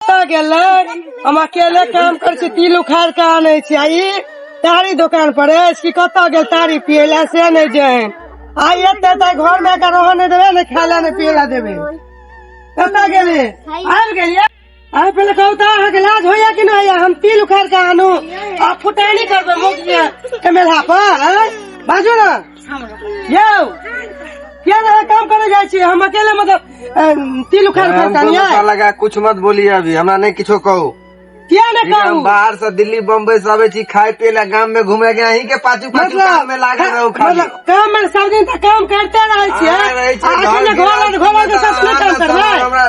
कतऽ गेलै हम अकेले काम करै छी तिल उखाड़ के आनै छी आ ई तारी दोकान पर अछि कि कतऽ गेल तारी पिए लए से नहि जाए आइ एते तऽ घर मे के रहऽ नहि देबै ने खाय लए नहि पिए लए देबै कतऽ गेलै आबि गेलियै आइ पहिले कहू तऽ अहाँके लाज होइया कि नहि होइया हम तिल उखाड़ के आनू आ फुटानी करबै मुख के मेला पर आँय? बाजू ने यौ क्या लगा काम करे जाए छी हम अकेले मतलब अ, तिल उखाड़ हम फरता कोनो नहीं साला है का कुछ मत बोलिए अभी हमरा नहीं किछो कहू क्या ने ठीक है, हम कहू बाहर से दिल्ली बम्बई से आबे छी खाए पिए ला गाम में घूमे के अहीं के पाछू पाछू काम मतलब में लागल रहू खाली मतलब काम में सब दिन तक काम करते रहे छी हाँ, रहै छी, आ घर अकेले में घोड़ा घोड़ा के साथ नहि काम करबै हमरा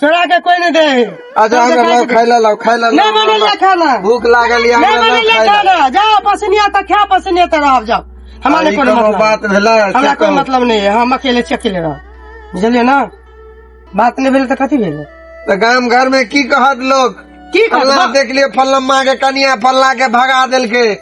चोरा के कोई नहीं दे अच्छा हमरा लाओ खाय ला लाओ खाय ला लाओ, नहीं बनेला लाओ। खाना भूख लागल या नहीं हमरा लाओ बनेला खाय ला खाना जाओ पसनिया तक खा पसनिया तक रह जाओ हमारे अरे, कोनो कोनो मतलब बात नहीं। भेला हमरा से कोई कहू। मतलब नहीं है हम अकेले छी अकेले रह बुझलिए ना बात नहीं भेल तो कथी भेल तो गांव घर में की कहत लोग की फल्ला करबा देख लिए फल्ला माँ के कनिया फल्ला के भगा देलके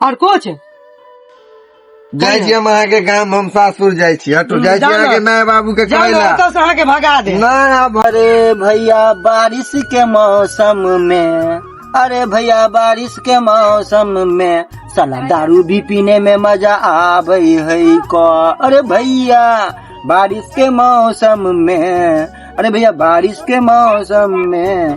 और कुछ जाइ छी हम अहाँके गाम हम सासुर जाइ छी हटू जाइ छी जाउ ने। अहाँके माय बाबू के जाओ कहै ना, ला ओतऽ से अहाँ के भगा दे ना अब अरे भैया बारिश के मौसम में अरे भैया बारिश के मौसम में साला दारू भी पीने में मजा आवे है को अरे भैया बारिश के मौसम में अरे भैया बारिश के मौसम में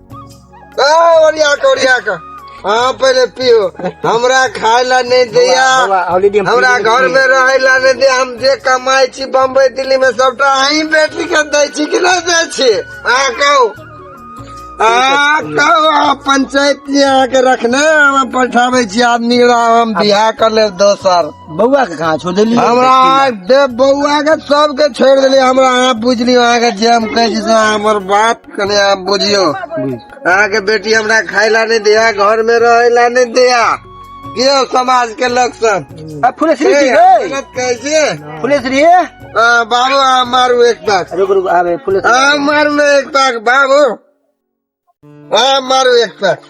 ओरिया के ओरिया के हाँ पहले पियो हमरा खाए ला नहीं दिया हमरा घर में रहे ला नहीं दिया हम जे कमाई छी बम्बई दिल्ली में सबटा अहीं बेटी के दै छी कि नहीं दै छी आ कहू आ कहू आ पंचायत जी अहाँके रखने हम पठाबै छी आदमी के हम बियाह कर लेब दोसर बौआ के कहाँ छोड़ देली हमरा दे बौआ के सबके छोड़ देली हमरा अहाँ बुझली अहाँके जे हम कहै छी से अहाँ हमर बात कने आप बुझियो अहाँ के बेटी हमरा खाय ला नहीं दिया घर में रहे ला नहीं दिया के हो समाज के लोग सब अब फुले श्री ए, जी गए गलत कैसे फुले श्री है आ, बाबू आ मारू एक पाक रुक रुक आवे फुले श्री आ मारू ना एक पाक बाबू आ मारू एक पाक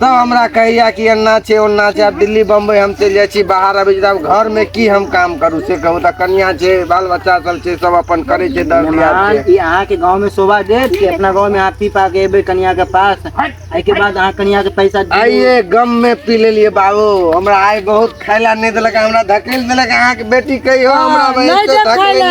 तऽ हमरा कहैया कि एना छै ओना छै आब दिल्ली बम्बई हम चलि जाइ छी बाहर अबै छी आब घर में की हम काम करू से कहू तऽ कनिया छै बाल बच्चा सब छै सब अपन करै छै दर ई अहाँ के गांव में शोभा देत कि अपना गांव में अहाँ पी पा के एबै कनिया के पास एहि के बाद अहाँ कनिया के पैसा आइए गम में पी लेलिए बाबू हमरा आइ बहुत खायला नहि देलक हमरा धकेल देलक अहाँ के बेटी कहियो हमरा नहीं तो खायला।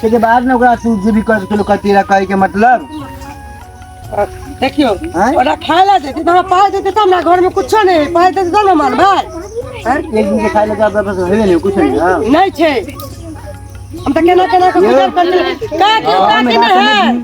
ताहिके बाद ने ओकरा तू जे भी कर सकेलो कर तेरा कहे के मतलब देखियो हैं? ओकरा खाए ला देते तो हमरा पाइ देते तब ना घर में कुछो नहीं है पाइ देते तब ना मानबै हैं? एक दिन के खाए लगा बस हेबे नहीं कुछ नहीं हाँ नहीं छै हम तऽ केना केना के गुजर करलियै का के का के ने है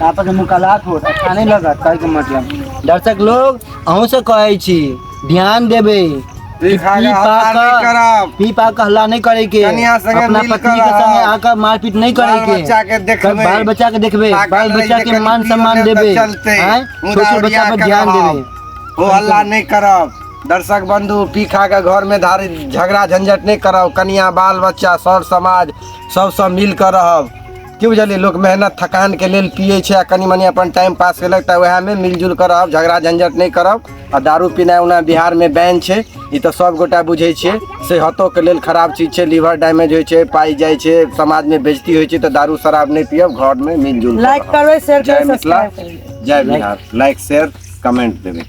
पापा के मुकालात होत अच्छा नहीं लगत कहे के मतलब दर्शक लोग अहूं से कहै छी ध्यान देबे ई खा के हल्ला नहीं करब। पी पा के हल्ला नहीं करे के कनिया संगे अपना मिल पत्नी के करब। संगे आकर मारपीट नहीं करे बाल के बच्चा के देखबे। बाल बच्चा के देखबे पागल बाल बच्चा रहिते के कनी मान पी सम्मान लेब त देबे चलते। हैं? छोट छोट उदाहरण बच्चा पर के ध्यान रहब। देबे ओ हल्ला नहीं करब दर्शक बंधु पी खा के घर में धारी झगड़ा झंझट नहीं करब कनिया बाल बच्चा सर समाज सब सब मिल कर रहब की बुझलियै लोक मेहनत थकानके लेल पियै छै आ कनि मनि अपन टाइम पास केलक तऽ उएहमे मिलजुल कऽ रहब झगड़ा झंझट नहि करब आ दारू पीनाइ ओना बिहारमे बैन छै ई तऽ सभगोटा बुझै छियै सेहतोके लेल खराब चीज छै लीवर डैमेज होइ छै पाइ जाइ छै समाजमे बेजती होइ छै तऽ दारू शराब नहि पियब घरमे मिलजुल कऽ लाइक रहब। करबै शेयर जय करबै मिथिला सब्सक्राइब करबै जय बिहार लाइक शेयर कमेंट देबै